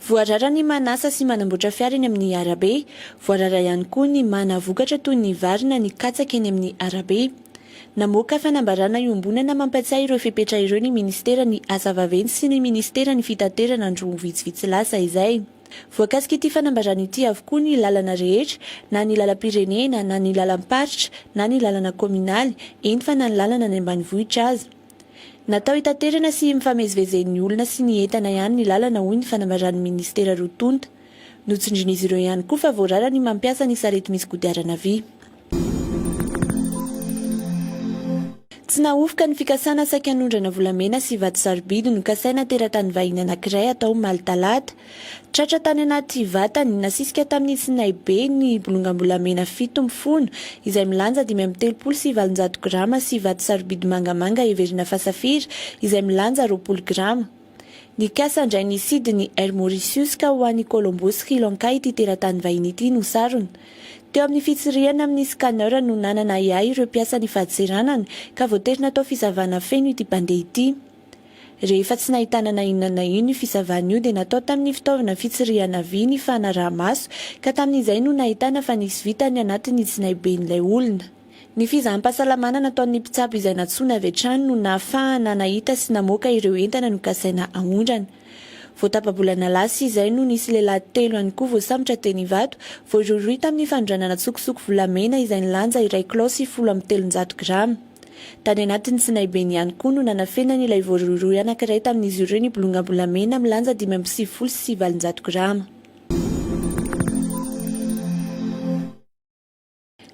Voarara ny manasa sy manamboatra fiara eny amin'ny arabe. Voarara ihany koa ny mana vokatra toy ny vary na ny katsaka eny amin'ny arabe. Namoaka fanambarana iombonana mampiatsiahy ireo fepetra ireo ny minisiteran'ny Asa vaventy sy ny minisiteran'ny Fitaterana andro vitsivitsy lasa izay. Voakasik'ity fanambarana ity avokoa ny lalana rehetra, na ny lalam-pirenena, na ny lalam-paritra, na ny lalana kaominaly, eny fa na ny lalana any ambanivohitra aza. Natao hitaterana sy hifamezivezen'ny olona sy ny entana ihany ny lalana hoy ny fanambaran'ny minisitera roa tonta. Notsindrin'izy ireo ihany koa fa voarara ny mampiasa ny sarety misy kodiarana vy. Tsy nahofoka ny fikasana saika hanondrana volamena sy vato sarobidy nokasaina teratany vahiny anankiray hatao omaly talata, Tratra tany anaty vatany, nasisika tamin'ny tsinaibe, ny bolongam-bolamena fito mifono, izay milanja dimy amby telopolo sy valonjato grama sy vato sarobidy mangamanga heverina fa safira, izay milanja roapolo grama. Nikasa handray ny sidin'i Air Mauritius ka ho any Colombo, Sri Lanka ity teratany vahiny ity no sarona. Teo amin'ny fitsirihana amin'ny scanner no nanana ahiahy ireo mpiasan'ny fadintseranana ka voatery natao fisavana feno ity mpandeha ity. Rehefa tsy nahitana na inona na inona io fisavana io dia natao tamin'ny fitaovana fitsirihana vy ny fanaraha-maso ka tamin'izay no nahitana fa nisy vy tany anatin'ny tsinaiben'ilay olona. Ny fizaham-pahasalamana nataon'ny mpitsabo izay nantsoina avy hatrany no nahafahana nahita sy namoaka ireo entana nokasaina aondrana. Vao tapa-bolana lasa izay no nisy lehilahy telo ihany koa voasambotra teny Ivato, voarohirohy tamin'ny fanondranana tsokosoko volamena izay nilanja iray kilao sy folo amby telonjato grama. Tany anatin'ny Sinaibeny ihany koa no nanafenany ilay voarohirohy anankiray tamin'izy ireo ny bolongam-bolamena milanja dimy amby sivifolo sy valonjato grama.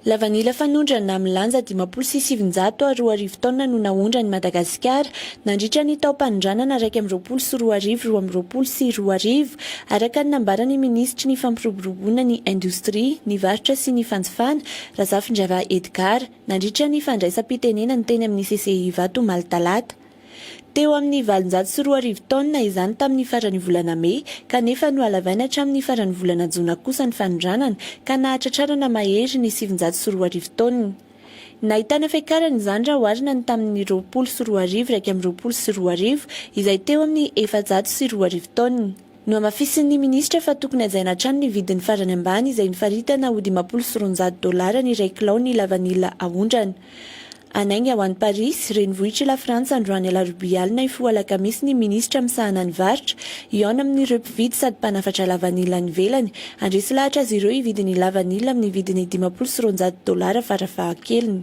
Lavanila fanondrana milanja dimampolo sy sivinjato ary roa arivo taonina no naondra an'i Madagasikara nandritra ny taom-panondranana iraika amby roapolo sy roa arivo roa amby roapolo sy roa arivo, araka ny nambaran'ny minisitry ny Fampiroboroboana ny indostria, ny varotra sy ny fanjifana, Razafindrava Edgard. nandritra ny fandraisam-pitenenany teny amin'ny CCI Ivato omaly talata. Teo amin'ny valonjato sy roa arivo taonina izany tamin'ny faran'ny volana mey kanefa nohalavaina hatramin'ny faran'ny volana jona kosa ny fanondranana ka nahatratrarana mahery ny sivinjato sy roa arivo taonina. Nahitana fiakarana izany raha oharina ny tamin'ny roapolo sy roa arivo iraika amby roapolo sy roa arivo izay teo amin'ny efajato sy roa arivo taonina. Nohamafisin'ny minisitra fa tokony hajaina hatrany ny vidiny farany ambany izay nifaritana ho dimampolo sy roanjato dolara ny iray kilao ny lavanila aondrana. Hanainga ho any Parisy, renivohitr'i Lafrantsa androany alarobia alina hifoha alakamisy ny minisitra misahana ny varotra, hihaona amin'ireo mpividy sady mpanafatra lavanila any ivelany. Handresy lahatra azy ireo hividy ny lavanila amin'ny vidiny dimampolo sy roanjato dolara farafahakeliny.